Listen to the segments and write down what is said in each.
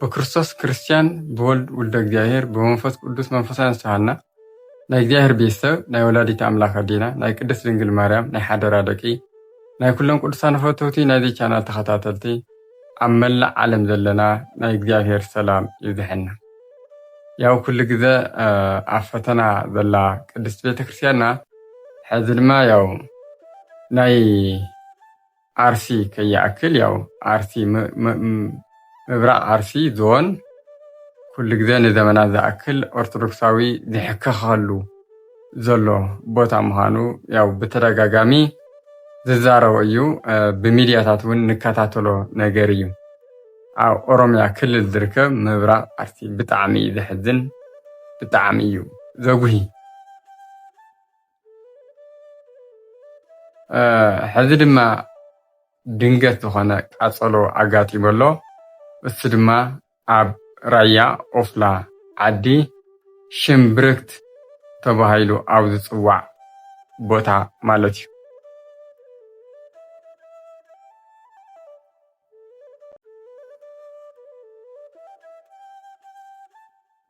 ብክርስቶስ ክርስትያን ብወልድ ውልደ እግዚኣብሔር ብመንፈስ ቅዱስ መንፈሳውያን ዝተሃና ናይ እግዚኣብሔር ቤት ሰብ ናይ ወላዲት ኣምላክ ኣዴና ናይ ቅድስት ድንግል ማርያም ናይ ሓደራ ደቂ ናይ ኩሎም ቅዱሳን ፈተውቲ ናይዚ ቻናል ተኸታተልቲ ኣብ መላእ ዓለም ዘለና ናይ እግዚኣብሔር ሰላም ይብዝሐና ያው ኩሉ ግዘ ኣብ ፈተና ዘላ ቅድስት ቤተክርስትያንና ሕዚ ድማ ያው ናይ ኣርሲ ከይኣክል ያው ኣርሲ ምብራቅ ኣርሲ ዞን ኩሉ ግዜ ንዘመናት ዝኣክል ኦርቶዶክሳዊ ዝሕከከሉ ዘሎ ቦታ ምዃኑ ያው ብተደጋጋሚ ዝዛረቦ እዩ ብሚድያታት እውን ንከታተሎ ነገር እዩ ኣብ ኦሮምያ ክልል ዝርከብ ምብራቅ ኣርሲ ብጣዕሚ እዩ ዘሕዝን ብጣዕሚ እዩ ዘጉሂ። ሕዚ ድማ ድንገት ዝኾነ ቃፀሎ ኣጋጢሙ ኣሎ። እሱ ድማ ኣብ ራያ ኦፍላ ዓዲ ሽምብርክት ተባሂሉ ኣብ ዝፅዋዕ ቦታ ማለት እዩ።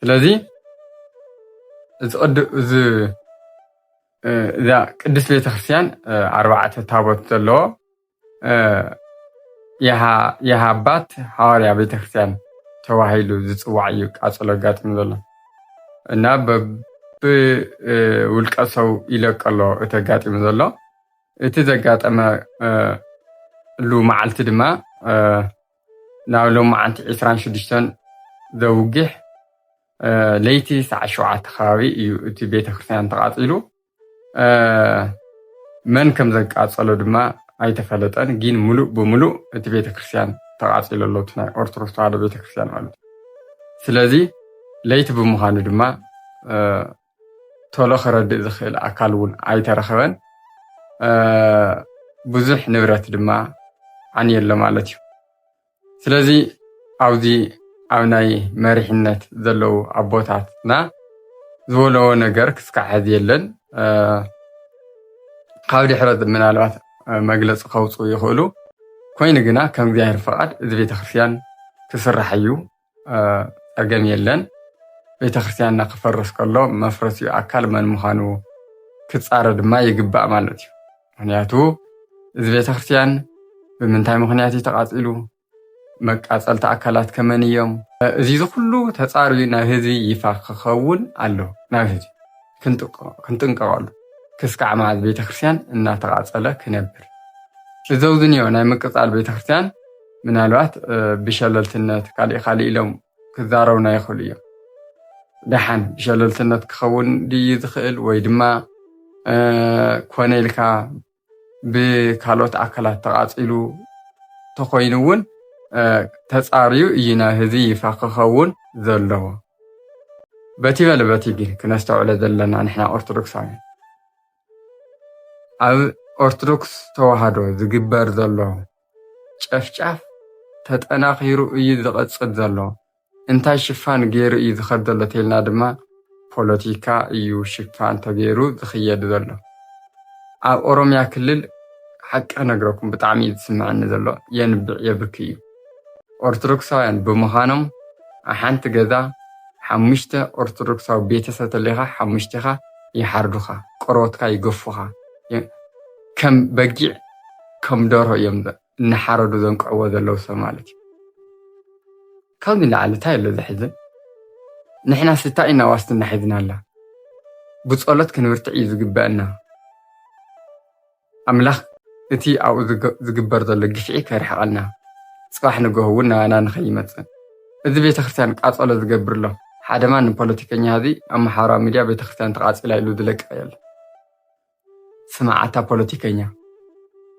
ስለዚ እዛ ቅድስት ቤተክርስትያን ኣርባዕተ ታቦት ዘለዎ የሃ ኣባት ሃዋርያ ቤተክርስትያን ተባሂሉ ዝፅዋዕ እዩ ቃፅሎ ኣጋጢሙ ዘሎ እና ብውልቀ ሰው ይለቀሎ እቲ ኣጋጢሙ ዘሎ እቲ ዘጋጠመሉ መዓልቲ ድማ ናብ ሎማዓንቲ ዕስራን ሽዱሽተን ዘውግሕ ለይቲ ሰዓት ሸውዓተ ከባቢ እዩ እቲ ቤተክርስትያን ተቓፂሉ። መን ከም ዘቃፀሎ ድማ ኣይተፈለጠን። ግን ሙሉእ ብሙሉእ እቲ ቤተክርስትያን ተቓፂሉ ኣሎ፣ እቲ ናይ ኦርቶዶክስ ተዋህዶ ቤተክርስትያን ማለት እዩ። ስለዚ ለይቲ ብምዃኑ ድማ ቶሎ ክረድእ ዝኽእል ኣካል እውን ኣይተረኸበን። ብዙሕ ንብረት ድማ ዓንየሎ ማለት እዩ። ስለዚ ኣብዚ ኣብ ናይ መሪሕነት ዘለዉ ኣቦታትና ዝበለዎ ነገር ክስካዕ ሕዚ የለን። ካብ ድሕረት ምናልባት መግለፂ ከውፅኡ ይኽእሉ። ኮይኑ ግና ከም እግዚኣብሔር ፍቓድ እዚ ቤተክርስትያን ክስራሕ እዩ። ጸገም የለን። ቤተክርስትያንና ክፈርስ ከሎ መፍረሲኡ ኣካል መን ምዃኑ ክጻረ ድማ ይግባእ ማለት እዩ። ምክንያቱ እዚ ቤተክርስትያን ብምንታይ ምክንያት እዩ ተቃጺሉ? መቃጸልቲ ኣካላት ከመን እዮም? እዚ ኩሉ ተጻርዩ ናብ ህዝቢ ይፋ ክኸውን ኣለዎ ናብ ህዝቢ። ክንጥንቀቐሉ ክስካዕ መዓዝ ቤተክርስትያን እናተቓፀለ ክነብር እዘውዝንዮ ናይ ምቅፃል ቤተክርስትያን ምናልባት ብሸለልትነት ካሊእ ካሊእ ኢሎም ክዛረቡና ይኽእሉ እዮም ደሓን ብሸለልትነት ክኸውን ድዩ ዝኽእል ወይ ድማ ኮነ ኢልካ ብካልኦት ኣካላት ተቓፂሉ ተኾይኑ እውን ተፃርዩ እዩ ናህዚ ይፋ ክኸውን ዘለዎ። በቲ በለ በቲ ግን ክነስተውዕለ ዘለና ንሕና ኦርቶዶክሳውያን ኣብ ኦርቶዶክስ ተዋህዶ ዝግበር ዘሎ ጨፍጫፍ ተጠናኺሩ እዩ ዝቐፅል ዘሎ። እንታይ ሽፋን ገይሩ እዩ ዝኸድ ዘሎ ተልና ድማ ፖለቲካ እዩ ሽፋን ተገይሩ ዝኽየድ ዘሎ። ኣብ ኦሮምያ ክልል ሓቂ ክነግረኩም ብጣዕሚ እዩ ዝስምዐኒ ዘሎ የንብዕ የብኪ እዩ። ኦርቶዶክሳውያን ብምዃኖም ሓንቲ ገዛ ሓሙሽተ ኦርቶዶክሳዊ ቤተሰብ ተለይካ ሓሙሽቴኻ ይሓርዱኻ፣ ቆርበትካ ይገፉኻ፣ ከም በጊዕ ከም ደርሆ እዮም እናሓረዱ ዘንቅዕዎ ዘለዉ ሰብ ማለት እዩ። ካብ ንላዕሊ እንታይ ኣሎ ዘሕዝን? ንሕናስ እንታይ ኢና ዋስትና ሒዝናላ? ብጸሎት ክንብርትዕ እዩ ዝግበኣና። ኣምላኽ እቲ ኣብኡ ዝግበር ዘሎ ግፍዒ ከርሕቐልና፣ ጽባሕ ንግሆ እውን ናባና ንኸይመጽእ። እዚ ቤተክርስትያን ቃጸሎ ዝገብር ኣሎ፣ ሓደ ማንም ፖለቲከኛ ሕዚ ኣብ ማሕበራዊ ሚድያ ቤተክርስትያን ተቓጺላ ኢሉ ዝለቅቕ የለን። ስማዕ ኣታ ፖለቲከኛ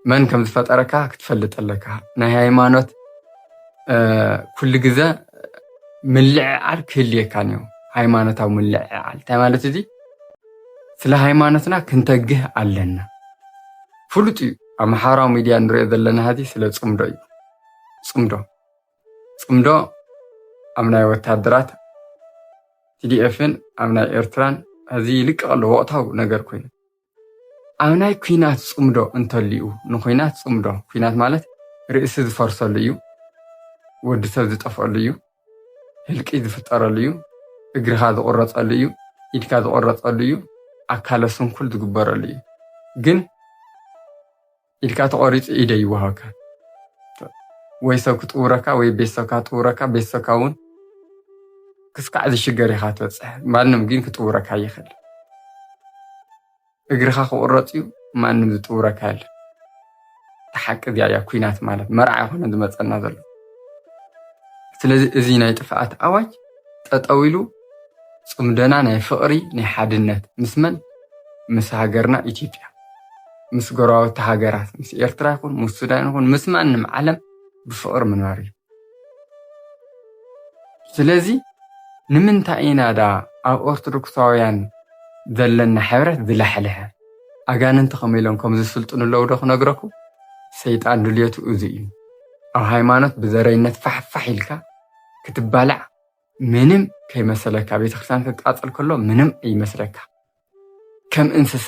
መን ከም ዝፈጠረካ ክትፈልጥ ኣለካ። ናይ ሃይማኖት ኩሉ ግዘ ምልዕዓል ክህልየካን እዩ። ሃይማኖታዊ ምልዕዓል እንታይ ማለት እዚ? ስለ ሃይማኖትና ክንተግህ ኣለና። ፍሉጥ እዩ ኣብ ማሕበራዊ ሚድያ ንሪኦ ዘለና ሀዚ ስለ ፅምዶ እዩ ፅምዶ ፅምዶ ኣብ ናይ ወታደራት ቲዲኤፍን ኣብ ናይ ኤርትራን ሕዚ ይልቀቕ ኣሎ ወቕታዊ ነገር ኮይኑ ኣብ ናይ ኩናት ፅምዶ እንተልዩ ንኩናት ፅምዶ ኩናት ማለት ርእሲ ዝፈርሰሉ እዩ ወዲ ሰብ ዝጠፍአሉ እዩ ህልቂ ዝፍጠረሉ እዩ እግርኻ ዝቑረፀሉ እዩ ኢድካ ዝቑረፀሉ እዩ ኣካለ ስንኩል ዝግበረሉ እዩ ግን ኢድካ ተቆሪፁ ኢደ ይወሃብካ ወይ ሰብ ክጥውረካ ወይ ቤተሰብካ ክጥውረካ ቤተሰብካ እውን ክስካዕ ዝሽገር ኢኻ ትበፅሕ ማንም ግን ክጥውረካ ይኽእል እግርኻ ክቁረፅ እዩ ማንም ዝጥውረካ የለ ተሓቂ እዚኣ እያ ኩናት ማለት መርዓ ይኮነ ዝመፀና ዘሎ ስለዚ እዚ ናይ ጥፍኣት ኣዋጅ ጠጠው ኢሉ ጽምዶና ናይ ፍቕሪ ናይ ሓድነት ምስ መን ምስ ሃገርና ኢትዮጵያ ምስ ጎረባብቲ ሃገራት ምስ ኤርትራ ይኹን ምስ ሱዳን ይኹን ምስ ማንም ዓለም ብፍቕሪ ምንባር እዩ። ስለዚ ንምንታይ ኢና ደኣ ኣብ ኦርቶዶክሳውያን ዘለና ሕብረት ዝላሕልሐ? ኣጋንንቲ ከመይ ኢሎም ከም ዝስልጥኑ ኣለዉ ዶ ክነግረኩም? ሰይጣን ድልየቱ እዚ እዩ። ኣብ ሃይማኖት ብዘረይነት ፋሕፋሕ ኢልካ ክትባላዕ ምንም ከይመሰለካ ቤተክርስትያን ክቃፀል ከሎ ምንም ይመስለካ ከም እንስሳ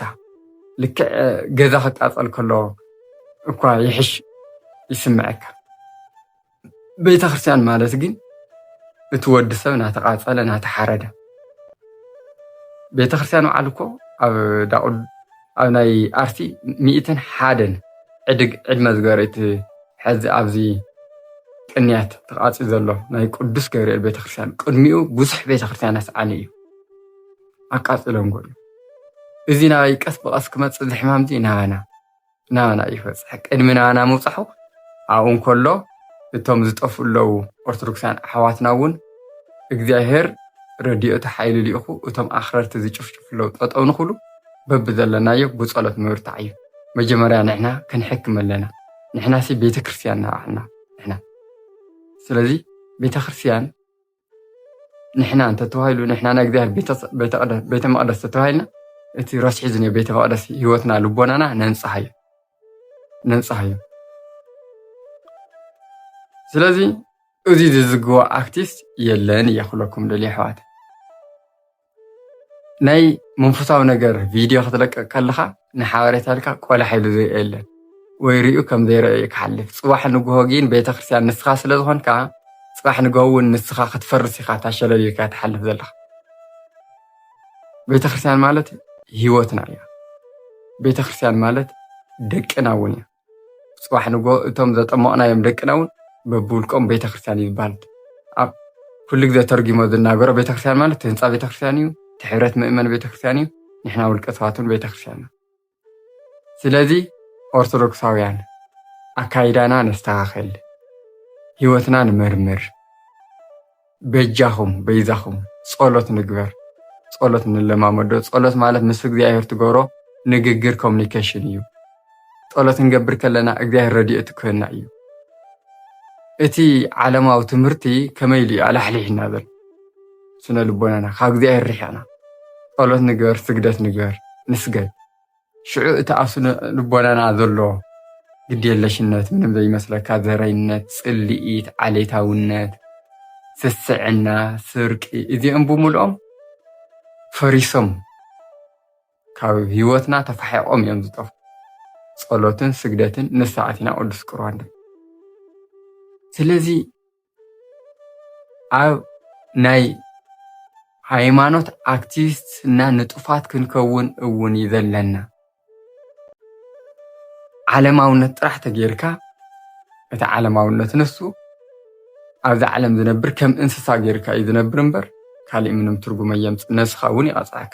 ልክዕ ገዛ ክቃፀል ከሎ እኳ ይሕሽ ይስምዐካ። ቤተክርስትያን ማለት ግን እቲ ወዲ ሰብ ናተቃፀለ ናተሓረደ ቤተክርስትያን በዓል እኮ ኣብ ኣብ ናይ ኣርሲ ሚእትን ሓደን ዕድግ ዕድመ ዝገበረ እቲ ሐዚ ኣብዚ ቅንያት ተቃፅዩ ዘሎ ናይ ቅዱስ ገብርኤል ቤተክርስትያን ቅድሚኡ ብዙሕ ቤተክርስትያናት ሰዓኒ እዩ ኣቃፅሎም ጎሉ እዚ ናይ ቀስ ብቀስ ክመፅእ ዝሕማም እዚ ናባና ናባና እዩ ክበፅሕ ቅድሚ ናባና ምብፃሑ ኣብኡ እንከሎ እቶም ዝጠፍኡ ኣለዉ ኦርቶዶክሳውያን ኣሕዋትና እውን እግዚኣብሄር ረድኤቱ ሓይሉ ልኢኹ እቶም ኣኽረርቲ ዝጭፍጭፉ ኣለዉ ጠጠው ንክብሉ በብዘለናዮ ብጸሎት ምብርታዕ እዩ። መጀመርያ ንሕና ክንሕክም ኣለና። ንሕናሲ ቤተክርስትያን ንባዕልና ንሕና ስለዚ ቤተክርስትያን ንሕና እንተተባሂሉ ንሕና ናይ እግዚኣብሔር ቤተ መቅደስ ተተባሂልና እቲ ረስሒ ዝኒ ቤተ መቅደስ ህይወትና ልቦናና ነንጽሃዮ ነንጽሃዮ ስለዚ እዚ ዝዝግቦ ኣክቲስት የለን እየ ክብለኩም ደልየ ኣሕዋት ናይ መንፈሳዊ ነገር ቪድዮ ክትለቅቅ ከለካ ንሓበሬታ ኢልካ ቆላሕ ኢሉ ዝርኦ የለን ወይ ሪኡ ከም ዘይረኦ እዩ ክሓልፍ ፅባሕ ንግሆ ግን ቤተክርስትያን ንስካ ስለ ዝኮንካ ፅባሕ ንግሆ እውን ንስካ ክትፈርስ ኢካ እታ ሸለልካ ትሓልፍ ዘለካ ቤተክርስትያን ማለት ሂወትና እያ ቤተክርስትያን ማለት ደቅና እውን እያ። ፅባሕ ንግሆ እቶም ዘጠመቅናዮም ደቅና እውን በብውልቆም ቤተክርስትያን እዩ ዝበሃል። ኣብ ኩሉ ግዜ ተርጊሞ ዝናገሮ ቤተክርስትያን ማለት እቲ ህንፃ ቤተክርስትያን እዩ፣ እቲ ሕብረት ምእመን ቤተክርስትያን እዩ፣ ንሕና ውልቀ ሰባት እውን ቤተክርስትያን ኢና። ስለዚ ኦርቶዶክሳውያን ኣካይዳና ነስተኻኽል፣ ህይወትና ንመርምር። በጃኹም በይዛኹም ጸሎት ንግበር፣ ጸሎት ንለማመዶ። ጸሎት ማለት ምስ እግዚኣብሔር ትገብሮ ንግግር ኮሚኒኬሽን እዩ። ጸሎት ክንገብር ከለና እግዚኣብሔር ረድኤቱ ክህበና እዩ። እቲ ዓለማዊ ትምህርቲ ከመይ ኢሉ እዩ ኣላሕሊሕና ዘሎ? ስነ ልቦናና ካብ እግዚኣብሔር ርሒቕና። ጸሎት ንግበር፣ ስግደት ንግበር፣ ንስገድ። ሽዑ እቲ ኣብ ስነ ልቦናና ዘሎ ግድየለሽነት፣ ምንም ዘይመስለካ ዘረይነት፣ ጽልኢት፣ ዓሌታውነት፣ ስስዕና፣ ስርቂ እዚኦም ብምልኦም ፈሪሶም ካብ ህይወትና ተፋሒቖም እዮም ዝጠፉ። ጸሎትን ስግደትን ንሳ ኣቲና ቅዱስ ቁርባን ስለዚ ኣብ ናይ ሃይማኖት ኣክቲቪስት እና ንጡፋት ክንከውን እውን እዩ ዘለና። ዓለማውነት ጥራሕ ተገይርካ እቲ ዓለማውነት ንሱ ኣብዛ ዓለም ዝነብር ከም እንስሳ ገይርካ እዩ ዝነብር እምበር ካሊእ ምንም ትርጉም ኣየምፅእን። ነብስኻ እውን ይቐፅዓካ።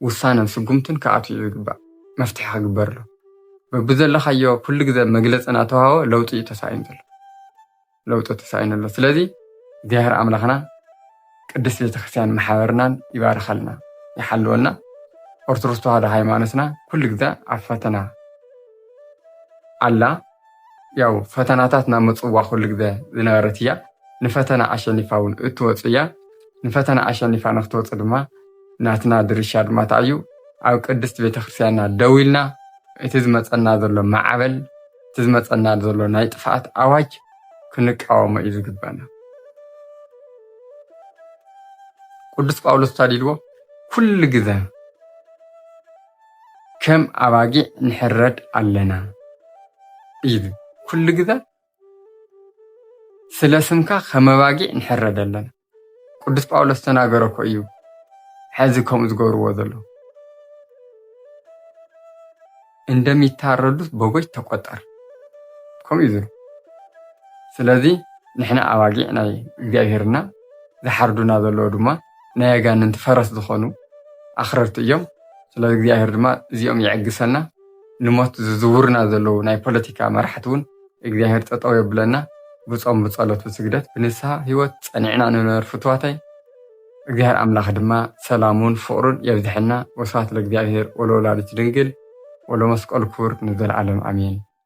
ውሳነን ስጉምትን ክኣትው እዩ ዝግባእ። መፍትሒ ክግበርሉ። በብዘለኻዮ ኩሉ ግዘ መግለፂ እናተውሃቦ ለውጢ እዩ ተሳኢኑ ዘሎ። ለውጢ ተሳኢኑ ኣሎ። ስለዚ እግዚኣብሔር ኣምላኽና ቅድስት ቤተክርስትያን ማሕበርናን ይባርኸልና ይሓልወልና። ኦርቶዶክስ ተዋህዶ ሃይማኖትና ኩሉ ግዘ ኣብ ፈተና ኣላ። ያው ፈተናታት ናብ ምጽዋ ኩሉ ግዘ ዝነበረት እያ። ንፈተና ኣሸኒፋ እውን እትወጽእ እያ። ንፈተና ኣሸኒፋ ንክትወጽእ ድማ ናትና ድርሻ ድማ እንታይ እዩ? ኣብ ቅድስት ቤተክርስቲያንና ደው ኢልና እቲ ዝመጸና ዘሎ ማዕበል እቲ ዝመጸና ዘሎ ናይ ጥፍኣት ኣዋጅ ክንቃወሞ እዩ ዝግበና። ቅዱስ ጳውሎስ እንታይ ኢልዎ? ኩሉ ግዘ ከም ኣባጊዕ ንሕረድ ኣለና ኢሉ ኩሉ ግዘ ስለ ስምካ ከም ኣባጊዕ ንሕረድ ኣለና። ቅዱስ ጳውሎስ ዝተናገሮ እኮ እዩ ሕዚ ከምኡ ዝገብርዎ ዘለዉ እንደሚታረዱት በጎች ተቆጠር ከምኡ እዩ ዝብሉ። ስለዚ ንሕና ኣባጊዕ ናይ እግዚኣብሄር እና ዝሓርዱና ዘለዉ ድማ ናይ ኣጋንንቲ ፈረስ ዝኾኑ ኣኽረርቲ እዮም። ስለ እግዚኣብሔር ድማ እዚኦም ይዕግሰና። ንሞት ዝዝውሩና ዘለዉ ናይ ፖለቲካ መራሕቲ እውን እግዚኣብሔር ጠጠው የብለና። ብጾም ብጸሎት ብስግደት ብንስሃ ህይወት ጸኒዕና ንንበር ፍትዋተይ። እግዚኣብሔር ኣምላኽ ድማ ሰላሙን ፍቕሩን የብዝሐልና። ወስብሐት ለእግዚኣብሔር ወለወላዲቱ ድንግል ወለመስቀሉ ክቡር ንዘለዓለም ኣሜን።